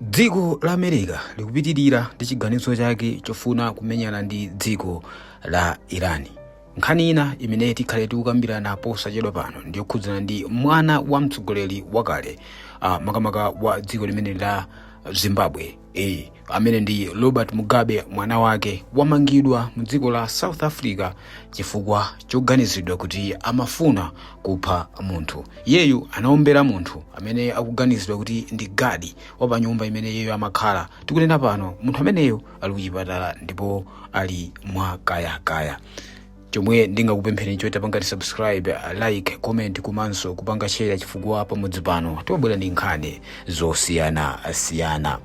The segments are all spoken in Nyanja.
dziko la america likupitirira ndi chiganizo chake chofuna kumenyana ndi dziko la iran nkhani ina imene tikhale tikukambirana posachedwa pano ndiyokhudzana ndi mwana wa mtsogoleri wakale uh, makamaka wa dziko limene la zimbabwe e amene ndi robert mugabe mwana wake wamangidwa mu dziko la south africa chifukwa choganiziridwa kuti amafuna kupha munthu iyeyu anaombera munthu amene akuganiziridwa kuti ndi gadi wa pa nyumba imene iyeyo amakhala tikunena pano munthu ameneyo ali kuchipatala ndipo ali mwa kayakaya chomwe ndingakupempheni choita pangani subscribe like comment komanso kupanga share chifukwa pamudzi pano timabwera ndi nkhani zosiyanasiyana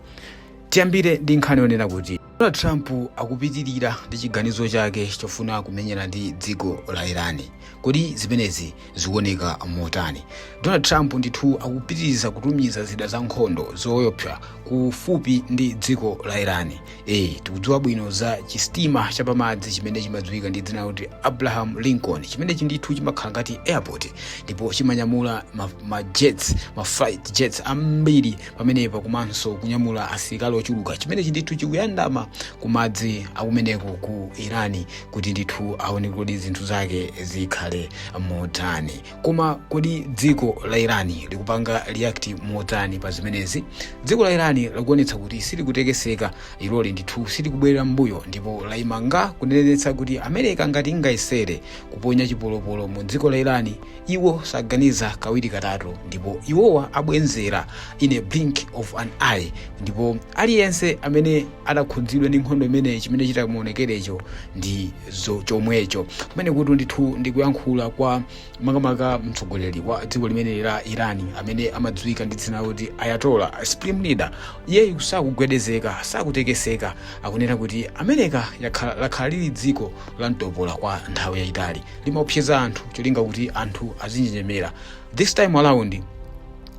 tiyambire ndi nkhani yonena kuti donald trump akupitirira ndi chiganizo chake chofuna kumenyana ndi dziko la iran kodi zimenezi zikuoneka motani donald trump ndithu akupitiriza kutumiza zida za nkhondo zoyopsa kufupi ndi dziko la iran e, tikudziwa bwino za chistima chapamadzi chimene chimadziwika ndi dzina lakuti abraham lincoln chimenechi ndithu chimakhala ngati airport ndipo chimanyamula ma, ma jets ma fighter jets ambiri pamenepa komanso kunyamula asilikali ochuluka chimenechi ndithu chikuyandama kumadzi akumeneko ku iran kuti ndithu aone kodi zinthu zake zikhale motani koma kodi dziko la irani likupanga react motani pa zimenezi dziko la irani likuonetsa kuti silikutekeseka iloli ndithu silikubwerera mbuyo ndipo layimanga kunenetsa kuti america ngati ingayesere kuponya chipolopolo mu dziko la irani iwo saganiza kawiri katatu ndipo iwowa abwenzera in a blink of an eye ndipo aliyense amene adzakhudzidwa ndi nkhondo imeneyi chimene chitamuonekerecho ndi zo- chomwecho kumenekutu ndithu ndikuyankhula kwa makamaka mtsogoleri wa dziko limeneli la iran amene amadziwika ndi dzina loti ayatollah supreme leader iyeyu sakugwedezeka sakutekeseka akunena kuti america yakhala- lakhala lili dziko la mtopola kwa nthawi yayitali limaopseza anthu cholinga kuti anthu azinjenjemera this time around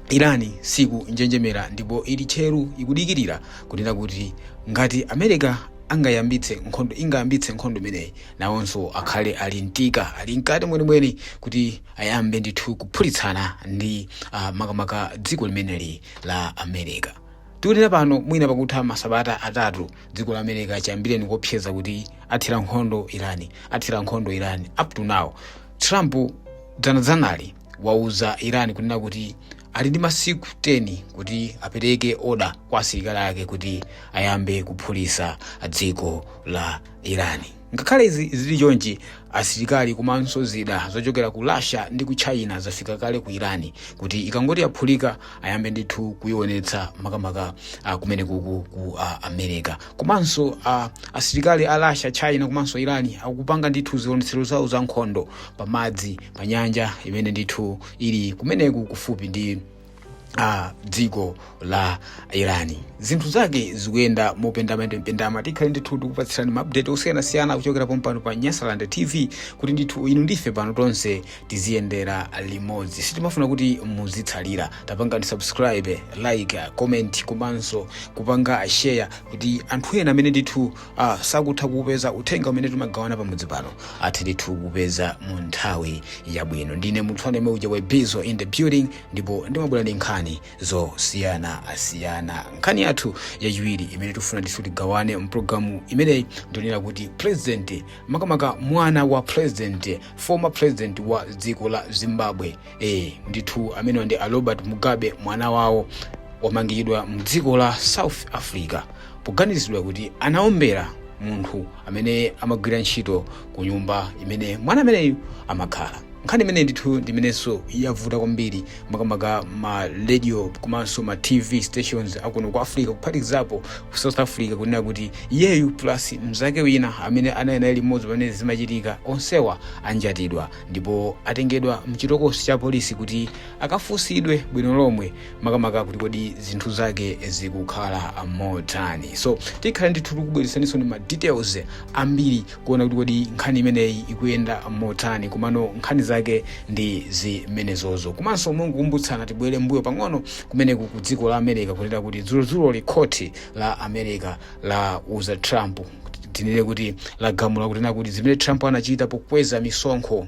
iran sikunjenjemera ndipo ili tcheru ikudikirira kunena kuti ngati america angayambitse nkhondo ingayambitse nkhondo imeneyi nawonso akhale ali mtika ali mkati mwenimweni kuti ayambe ndithu kuphulitsana ndi uh, makamaka dziko limeneli la america tikunena pano mwina pakutha masabata atatu dziko la america chiyambireni kuopseza kuti athira nkhondo iran athira nkhondo iran up to now trump dzanadzanali wauza iran kunena kuti ali ndi masiku 10 kuti apereke oda kwa asilikali ake kuti ayambe kuphulisa dziko la irani ngakhale izi zili chonchi asilikali komanso zida zochokera ku russia ndi ku china zafika kale ku irani kuti ikangoti yaphulika ayambe ndithu kuionetsa makamaka uh, kumeneku ku uh, america komanso uh, asilikali a russia china komanso irani akupanga ndithu zionetsero zawo za nkhondo pamadzi pa nyanja imene ndithu ili kumeneku kufupi ndi a dziko la irani zinthu zake zikuyenda mopendamapendama tikhale ndithu tikupatsirani maupdate osiyanasiyana kuchokera pompano pa nyasaland tv kuti ndithu inu ndi ife pano tonse tiziyendera limodzi sitimafuna kuti muzitsalira tapangani subscribe like comment komanso kupanga share kuti anthu ena amene ndithu ah, sakutha kuupeza uthenga umene timagawana pamodzi pano athe ndithu kupeza mu nthawi yabwino ndine munthu amene uja wa bizo in the building ndipo ndimabwera ndi nkhani zosiyanasiyana nkhani yathu yachiwiri imene tifuna ndithu tigawane mpulogalamu imeneyi ndi yonena kuti president makamaka mwana wa president former president wa dziko la zimbabwe eh, ndithu amenewa ndi a robert mugabe mwana wawo wamangidwa mdziko la south africa Poganiziridwa kuti anaombera munthu amene amagwira ntchito ku nyumba imene mwana ameneyu amakhala. Nkhani imeneyi ndithu ndi imenenso yavuta kwambiri makamaka ma radio komanso ma TV stations akuno ku Africa kuphatikizapo ku South Africa kunena kuti iyeyu plus mnzake wina amene anali naye limodzi pamene zimachitika onsewa anjatidwa ndipo atengedwa mchitokosi cha apolisi kuti akafunsidwe bwino lomwe makamaka kuti kodi zinthu zake zikukhala motani so tikhale ndithu tikubweretsaninso ndi ma details ambiri kuona kuti kodi nkhani imeneyi ikuyenda motani komano nkhani zake ndi zimenezozo komanso mongokumbutsana tibwere mbuyo pang'ono kumeneku ku dziko la america kunena kuti dzulodzuloli khoti la america lauza trump tinene kuti lagamula kunena kuti zimene trump anachita pokweza misonkho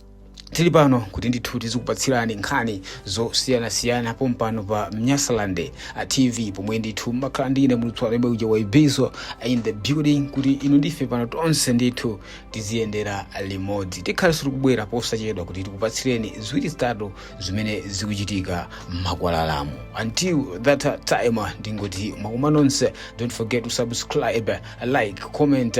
tili pano kuti ndithu tizikupatsirani nkhani zosiyanasiyana pompano pa nyasaland tv pomwe ndithu mmakhala ndi ine mulutso alembe uja wa ibizo in the building kuti inu ndi ife pano tonse ndithu tiziyendera limodzi tikhale so tikubwera posachedwa kuti tikupatsireni ziwiri zitatu zimene zikuchitika mmakwalalamu until that time ndingoti mwakoma nonse don't forget to subscribe like comment